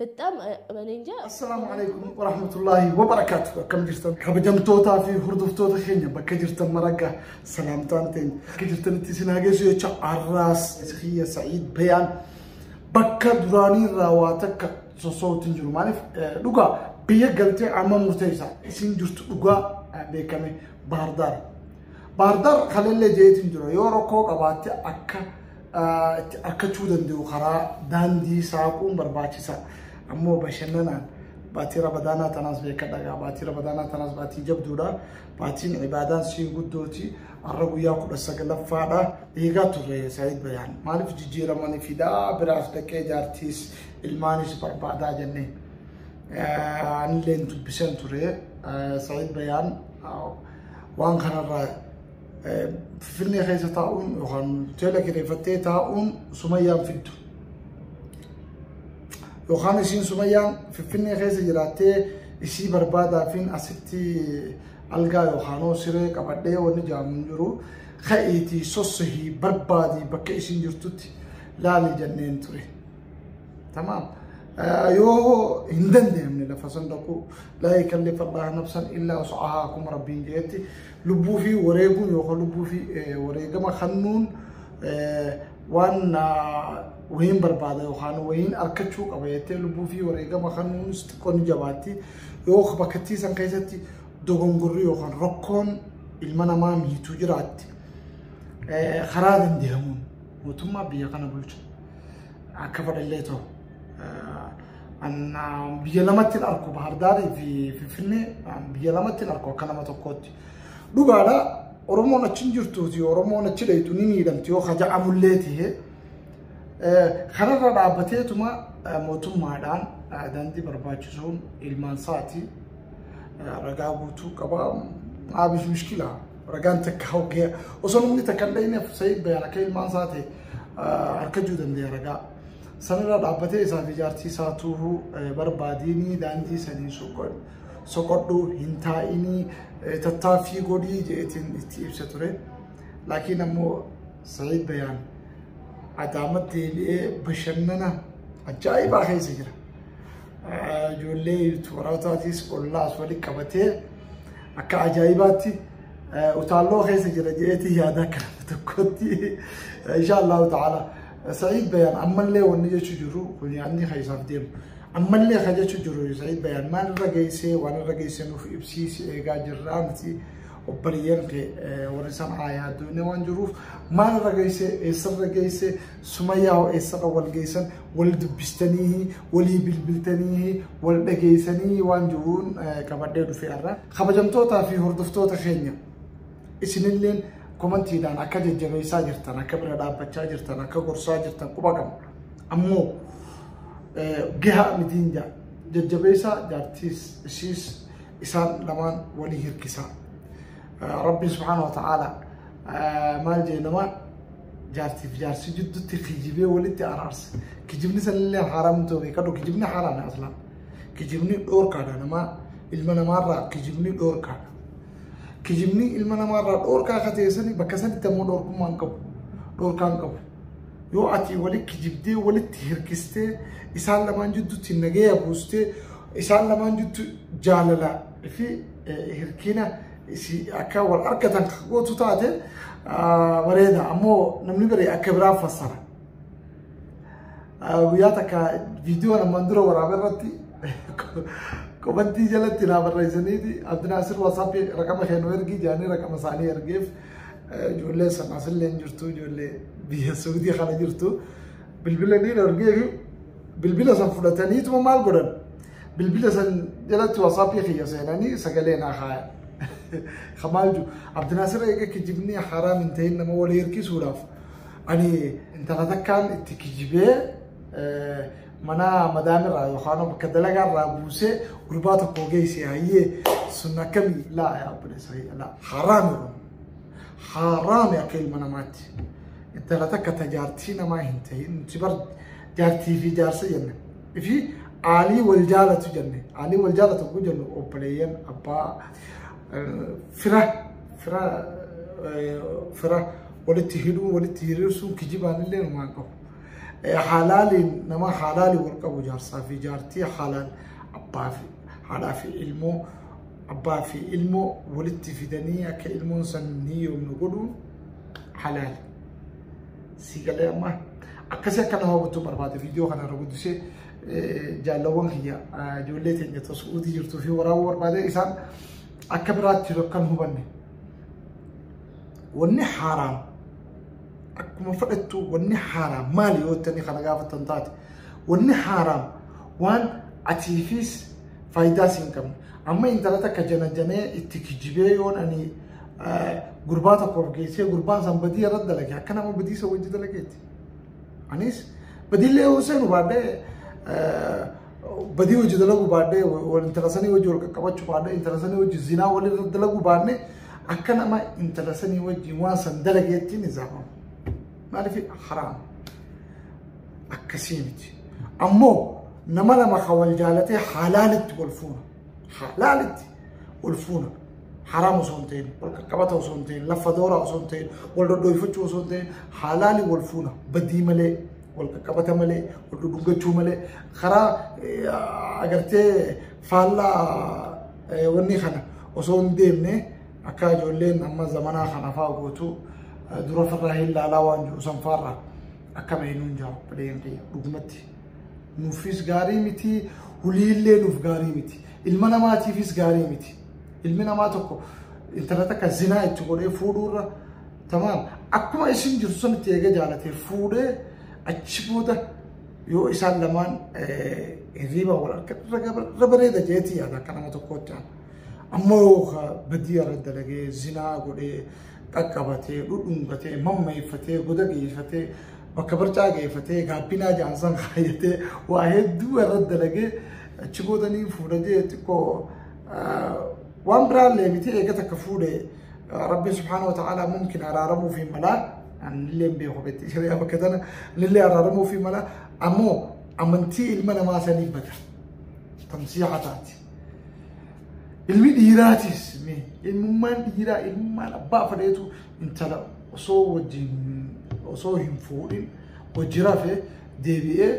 በጣም እኔ እንጃ Assalaamu alaikum warahmatullahi wabarakatuh. Akkam jirtan kabajamtootaa fi hordoftoota keenya bakka jirtan maragga salaamtaan teenya bakka jirtanitti isin haa geessu jecha arraas kiyya sa'iid bayaan bakka duraanii irraa waa takka sossootiin jiru maaliif eh, dhugaa biyya galtee amma murteessa isin jirtu dhugaa eh, beekame baardaar baardaar kalellee jeetiin jira yoo rakkoo qabaatte akka itti arkachuu danda'u karaa daandii saaquun barbaachisa. Ammoo bashannanaan baatii rabadaanaa tanaas beekadha gaa baatii rabadaanaa tanaas baatii jabduudha. Baatiin ibaadaan sii guddooti har'a guyyaa kudha sagalaffaadha. Eegaa turre Saayid Bayaan maaliif jijjiiramanii fidaa biraas dhaqee jaartiis ilmaanis barbaadaa jennee. Anillee dubbiseen ture Saayid Bayaan waan kanarraa Finfinnee keessa taa'uun yookaan hoteela kireeffattee taa'uun sumayyaan fiddu. Yookaan isiin sumayyaan Finfinnee keessa jiraattee isii barbaadaafiin asitti algaa yookaan hoo siree qabadhee wanni jaamu hin jiru. Ka'iitii sossahii barbaadii bakka isiin jirtutti laali jenneen ture. Tamaam. Yoo hin dandeenye lafa san dhaquu laa yukallifu Allaahu nafsan illaa wus'ahaa akkuma Rabbiin jedhetti Lubbuu fi wareeguun yookaan lubbuu fi wareegama kennuun waan wayiin barbaada yookaan wayiin arkachuu qaba jettee lubbuu fi wareegama kennuun xiqqoo ni jabaatti. Yoo bakkattii san keessatti dogongorri yookaan rakkoon ilma namaa miituu jiraatti karaa dandeemuun mootummaa biyya kana bulchu akka fedhallee ta'u. Biyya lamatti hin arku Baahardaarii fi Finfinnee biyya lamatti hin arku akka nama tokkootti. Dhugaadha Oromoon achi hin jirtuuti Oromoon achi dheeytu ni miidhamti yoo kaja'amullee ta'e. Kanarra dhaabbateetuma mootummaadhaan daandii barbaachisuun ilmaan isaati ragaa guutuu qaba. Abish mishkila ragaan takka hogee osoo namni takka hin dhayneef sa'id bayaan akka ilmaan isaati harkachuu dandeenya ragaa. Sanirra dhaabbatee isaa fi jaartii isaa tuuhu barbaadiini daandii sanii soqodhu hin taa'ini tattaaffii godhii jeetiin itti ibsa ture. Laakiin ammoo Sa'iid Bayaan Adaamatti deebi'ee bashannana ajaa'ibaa keessa jira. Ijoollee toorataatiis ollaas walitti qabatee akka ajaa'ibaatti utaalloo keessa jira jeetii yaada akka tokkotti. Inshaa Allahu ta'ala. Sa'iid Bayaan ammallee wanni jechuu jirru kun yaadni kan isaaf deemu. Ammallee kan jechuu jirru Sa'iid Bayaan maal irra geessee waan irra geessee nuuf ibsiisi eegaa jirraa miti obboleeyyan kee warri san aayaa addunyaa waan jiruuf maal irra geessee eessarra geessee sumayyaa hoo eessarra wal geessan wal dubbistanii walii bilbiltanii wal dhageessanii waan jiruun qabadhee dhufee irraa kabajamtootaa fi hordoftoota keenya. isinilleen komantiidhaan akka jajjabeessaa jirtan akka bira dhaabbachaa jirtan akka gorsaa jirtan quba qabu ammoo gahaa mitiin jaa jajjabeessaa jaartiis ishiis isaan lamaan walii hirkisaa rabbiin subhaana wa ta'aala maal jee namaa jaartiif jaarsi jidduutti kijibee walitti araarsa kijibni sanillee haaraam ta'uu beekadhu kijibni haaraam aslaan kijibni dhoorkaadha namaa ilma namaarraa kijibni dhoorkaadha Kijibni ilma namaarraa dhoorkaa akka ta'e sani bakka sanitti ammoo dhoorkummaa hin qabu. Dhoorkaa hin qabu. Yoo ati wali kijibdee walitti hirkistee isaan lamaan jidduutti nagaya buustee isaan lamaan jiddu jaalala fi eh, hirkina isi akka wal argatan kan gootu taate ah, bareeda. Ammoo namni bari akka biraa fassara. Guyyaa takka viidiyoo namaan dura waraabee irratti komantii jalatti naa barreessaniiti Abdinaasir Waasaappii raqama kennuu ergii jaanii raqama isaanii ergeef ijoollee sanaas illee hin jirtu ijoollee biyya Suudii kana jirtu bilbila ni ergee fi bilbila san fudhataniituma maal godhan bilbila san jalatti Waasaappii kiyya seenanii sagalee naa kaayan. Kamaal jiru Abdinaasir eega kijibni haraam hin ta'in nama walii hirkisuudhaaf Ani intala takkaan itti kijibee mana madaan irraa yookaan bakka dalagaa irraa buusee gurbaa tokko geesse hayyee sun akkamii laa yaa obboleessa laa haraami haraami akka ilma namaatti intala takka ta jaartii namaa hin ta'in nuti bar jaartii fi jaarsa jenne fi aalii wal jaalatu jenne aalii wal jaalatu kun jennu obboleeyyan abbaa fira fira fira walitti hidhuu walitti hiriirsuun kijibaan illee numaan qabu. Haalaaliin nama haalaaliin wal qabu jaarsaa fi jaartii haalaal abbaa fi haadhaa fi ilmoo abbaa fi ilmoo walitti fidanii akka ilmoon san ni yoomnu godhuun halaali. Sii galee ammaa akkasii akka nama hawwattu barbaade viidiyoo kana irra guddisee jaallawwan kiyya ijoollee teenya ta'u su'uutii jirtuu fi waraabuu barbaade isaan akka biraatti jiru akka hin hubanne. Wanni haaraan akkuma fudhattu wanni haaraan maali yoo itti kana gaafatan taate wanni haaraan waan atiifis faayidaa siin qabne amma intala takka janajanee itti kijibee yoon ani gurbaa tokkoof geessee gurbaan san badii irratti dalage akka nama badii isa wajji dalageeti. Anis badiillee yoo seenu baadhee badii hojii dalaguu baadhee intala sanii hojii wal qaqqabachuu baadhee intala sanii hojii zinaa walirra dalaguu baadhee Akka nama intala sanii wajjin waan san dalageetti ni zaafama. Maaliif haraam. Akkasii miti. Ammoo nama lama kan wal jaalatee halaalitti wal fuuna. Halaalitti wal fuuna. Haraam osoo hin ta'in, wal qaqqabata osoo hin ta'in, lafa dooraa osoo hin ta'in, wal dhodhooyfachuu osoo hin ta'in, halaali wal fuuna. Badii malee, wal qaqqabata malee, wal dhudhungachuu malee, karaa eh, agartee faallaa Wanni kana osoo hin deemne akka ijoolleen amma zamanaa kana fa'aa gootu dura farraa hin laalaa waan jiru san fa'arraa akka beeknuun jira bileen kiyya dhugumatti. Nuufis gaarii miti huliillee nuuf gaarii miti ilma namaatiifis gaarii miti ilmi namaa tokko intalata akka zinaa itti godhee fuudhuurra tamaan akkuma isin jirtu sanitti eega jaalatee fuudhee achi booda Yoo isaan lamaan hirriiba wal argan irra bareeda jeetii yaada akka nama tokkootti aan. Amma yoo badii irra dalagee zinaa godhee qaqqabatee dhudhungatee mammeeffatee goda geeffatee bakka barcaa geeffatee gaabbinaa jaansan kaayyatee waa hedduu irra dalagee achi boodanii fuudhajee xiqqoo waan biraallee miti eegata akka fuudhee Rabbiin subhaanahu wa ta'aalaa mumkin araaramuu fi malaa anillee hin beeku beekti shari'aa bakka tana anillee araaramuu fi malaa ammoo amantii ilma namaa sanii bada tamsiixa taati. Ilmi dhiiraatis ilmummaan dhiiraa ilmummaan abbaa fadheetu intala osoo wajjin osoo hin fuudhin hojii rafee deebi'ee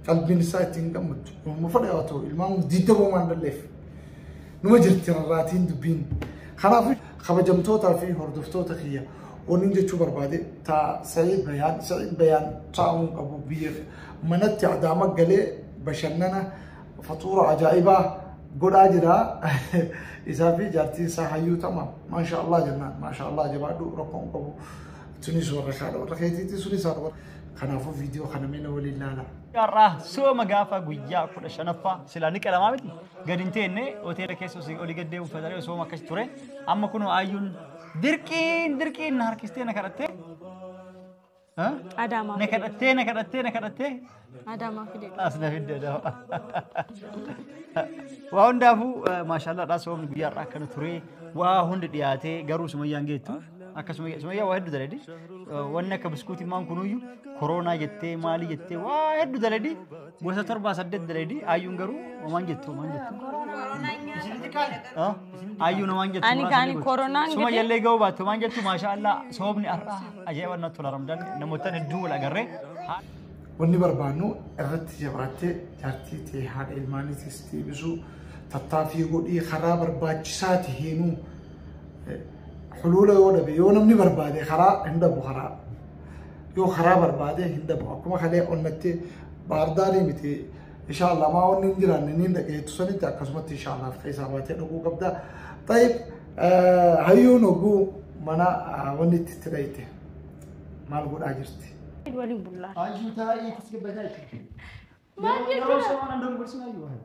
qalbiin isaa ittiin gammaddu. Ilma fadhaa ta'u ilmaan diidda boomaan dalleef. Numa jirti rarraatiin dubbiin. Kanaaf kabajamtootaa fi hordoftoota kiyya wanni jechuu barbaade taa Sa'iid Bayaan Sa'iid Bayaan taa'uun qabu biyya manatti adaama galee bashannana fatuura ajaa'ibaa godhaa jira. Isaa fi jaartiin isaa hayyuu tama. Maasha Allah jennaan. Maasha Allah jabaadhu rakkoon qabu. Tunis warra kaadha warra keetiitti sunis haadha warra. Kanaafuu viidiyoo kana mee na waliin laala. Har'aa sooma gaafa guyyaa kudha shanaffaa silaa ni qalamaa miti. Gad hin teenne hoteela keessa osoo olii gad deemu fayyadamee osoo akkas ture. Amma kunoo ayyuun dirqiin dirqiin na harkistee na kadhattee. Ha? Adaamaa Na fide. kadhattee na kadhattee na kadhattee. Adaamaa fide. As na fidde dama. Waa hundaafuu eh, maashaallah dhaa soomni guyyaa irraa akkana ture. Waa hundi dhiyaatee garuu sumayyaan geettu. Akka sumayyaa sumayyaa waa hedduu daladi. Wanni akka biskuutii maan kunuyyuu koroonaa jettee maalii jettee waa hedduu daladi. Gosa torbaa saddeet daleedi ayyuun garuu homaan jettu homaan jettu. Ayyuun homaan jettu. Ani muraasa kaan ni gooti. koronaan Suma gidee- jallee ga'uu baattu homaan jettu maashaa Allah soobni har'a ajaa'iba natti tola ramdan namoota hedduu wal agarree. Wanni barbaannu irratti jabaatee jaartii ta'e haadha ilmaanii teessitee ibsuu tattaaffii godhii karaa barbaachisaa ta'eenuu huluula yoo dhabe yoo namni barbaade karaa hin dhabu karaa yoo karaa barbaadee hin dhabu akkuma kalee onnatti baardaarii miti inshaallah maa onni hin jiraanne niin dhageettu sanitti akkasumatti inshaallah keessaa baatee dhuguu qabda tayyib hayyuun oguu mana wanni itti itti dhayite maal godhaa jirti waliin bullaa Anjuu taa'ii tasgabbataa jechuudha. Maal Yeroo- Yeroo jechuudha? somaan dorgorsinaa yoo haala.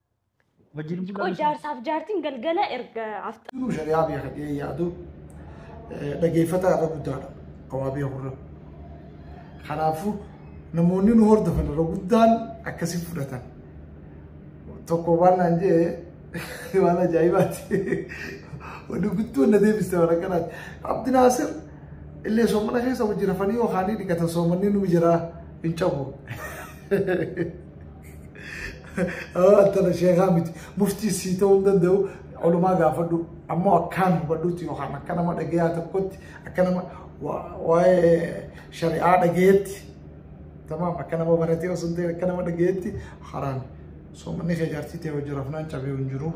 Wajjin bulaa. Qoy jaarsaaf jaartiin galgala erga afta. Duruu shari'aa biyya kadhee yaadu dhaggeeffataa irra guddaadha. Qawaabee hurra. Kanaafuu namoonni nu hordofan irra guddaan akkasi fudhatan. Tokko waan naan jee waan ajaa'ibaati. Wanni guddoo na deebiste waan akkanaati. Abdi Naasir illee soomana keessa hojii rafanii yookaan dhiqatan soomanii nu jira hin cabu. tana sheekaa miti muftii sii ta'uu hin danda'u olumaa gaafadhu ammoo akkaan hubadhutti yookaan akka nama dhagayaa tokkotti akka nama waa'ee shari'aa dhagayetti tamaam akka nama baratee osoo hin ta'in akka nama dhagayetti haraan soomanni kee jaartii ta'e hojii rafnaan cabee hin jiru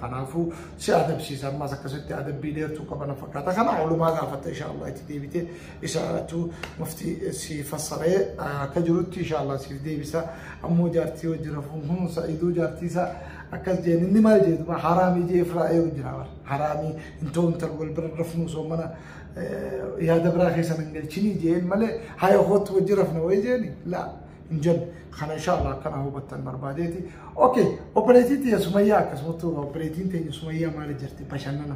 Kanaafuu si adabsiisa ammas akkasitti adabbii dheertuu qabana fakkaata. Kana oolumaa gaafatta inshaallah itti deebitee isa irrattu mufti si fassaree akka jirutti inshaallah siif deebisa. Ammoo jaartii wajji rafuun kun sa'iduu jaartii isaa akkas jeen inni maal jee duba haraamii jee firaa eeru jira bar. Haraamii hin ta'u intal wal bira rafnuu osoo mana yaada biraa keessa hin galchinii jeen malee haya hootu wajji rafna wayii jeeni laa. hin jennu. Kana insha Allah akkana hubattan barbaadeeti. Okay, obboleettii tiyya Sumayyaa akkasumatti obboleettiin teenya Sumayyaa maali jirti bashannana.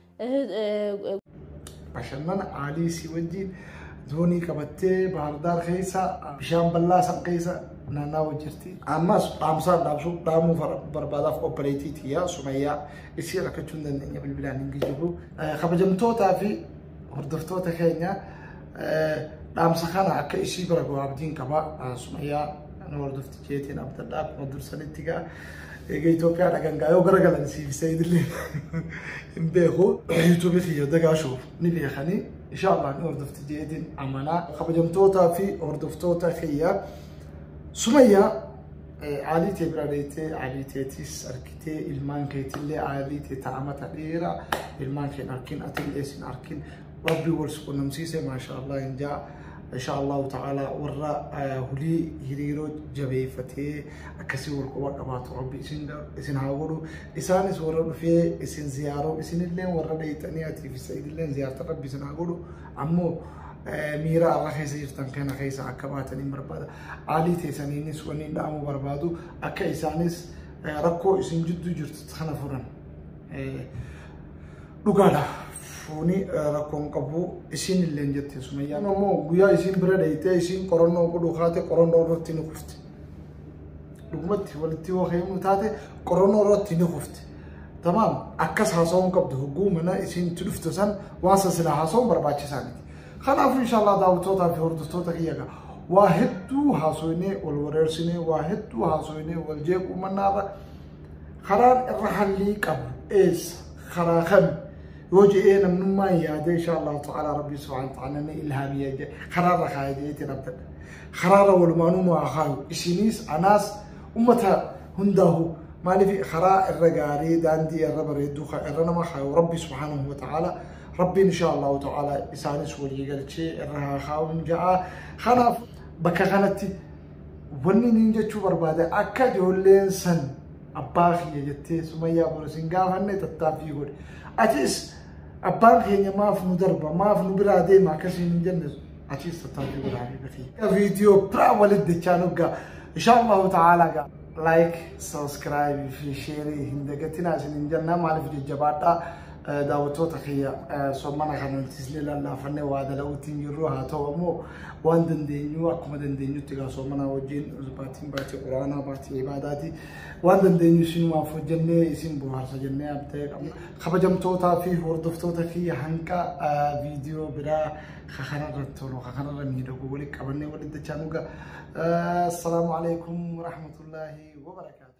Bashannana aalii si wajjin zoonii qabattee baardaar keessa bishaan bal'aa san keessa naannawaa jirti. Ammas dhaamsaan dhaamsuu dhaamuu barbaadaaf obboleettii tiyyaa Sumayyaa isii rakkachuu hin dandeenye bilbilaan hin geejjibu. Kabajamtootaa fi hordoftoota keenya dhaamsa kana akka isii bira gahu abdiin qaba Sumayyaa nu hordofti. Jeetiin abdadhaa akkuma dursanitti gaa eega Itoophiyaa dhagan gaa yoo garagalan siif seeyidillee hin beeku. Yuutuubii kiyya dagaashu ni beekanii inshaallah ni hordofti jeetiin amanaa. Kabajamtootaa fi hordoftoota kiyya Sumayyaa aalii tee bira deettee aalii teetis argitee ilmaan keetillee aalii tee taa'amata dheeraa ilmaan keen arkin atillee sin arkin rabbi wal si qunnamsiise maashaa allah hin jaa insha allahu ta'ala warra eh, hulii hiriiroo jabeeffatee akkasii wal quba qabaatu rabbi isin da- isin haa godhu isaanis warra dhufee isin ziyaaroo isinillee warra dheeyxanii atiif sa'idillee ziyaarta rabbi isin haa godhu ammoo eh, miira arra keessa jirtan kana keessa akka baatan hin barbaada aalii teessaniinis wanni dhaamu barbaadu akka isaanis eh, rakkoo isin jidduu jirtu kana furan Eh, Dhugaadha. Foonii rakkoon qabu isiin illee hin jettiin sumayyaan ammoo guyyaa isiin bira dheeytee isiin qorannoo godhuu kaate qorannoo irratti ni kufte. Dhugumatti walitti yoo heemuun taate qorannoo irratti ni kufte. Tamaam akkas haasawuun qabdu hogguu mana isiin itti dhufte san waan san silaa haasawuun barbaachisaa miti. Kanaafuu inshaallah daawwattootaa fi hordoftoota kiyya ga'a. Waa hedduu haasoinee wal wareersinee waa hedduu haasoinee wal jeequu mannaarra Karaan irra hallii qabu eessa? Karaa kami? Yoo je'ee namnummaan yaadee insha Allah ta'ala Rabbi subhanahu wa ta'ala ni ilhaamiyya jedhe. Karaa irra kaayee je'eetiin abdadha. Karaa irra walumaanuu maa kaayu. Isiniis anaas ummata hundaahu maaliif karaa irra gaarii daandii irra bareedduu kan irra nama kaayu Rabbi subhanahu wa ta'ala Rabbiin insha Allah ta'ala isaanis walii galchee irra haa kaayuun ja'a. Kanaaf bakka kanatti Wanni niin jechuu barbaade akka ijoolleen san abbaa kiyya jettee sumayyaa boru sin gaafanne tattaaffii godhe. Atis abbaan keenya maaf nu darba maaf nu biraa deema akkasiin hin jenne atis tattaaffii godhaa fi viidiyoo biraa walitti dachaa nuggaa. Inshaallahu ta'aalaa gaa. Like, subscribe fi share hin dagatinaa isin hin jennaa maaliif jajjabaadhaa. daawwattoota kiyya sommana kana nutis illee lallaafannee waa dala'uutti hin jirru haa ta'u ammoo waan dandeenyu akkuma dandeenyutti egaa soomanaa wajjin baatiin baatii quraanaa baatii ibaadaati waan dandeenyu isinumaaf hojjennee isin bohaarsa jennee abdee qabna kabajamtootaa fi hordoftoota fi hanqa viidiyoo biraa kakanarra tolu kakanarra miidhagu wali qabannee walitti dachaa nuga assalaamu alaikum warahmatullaahi wabarakaatu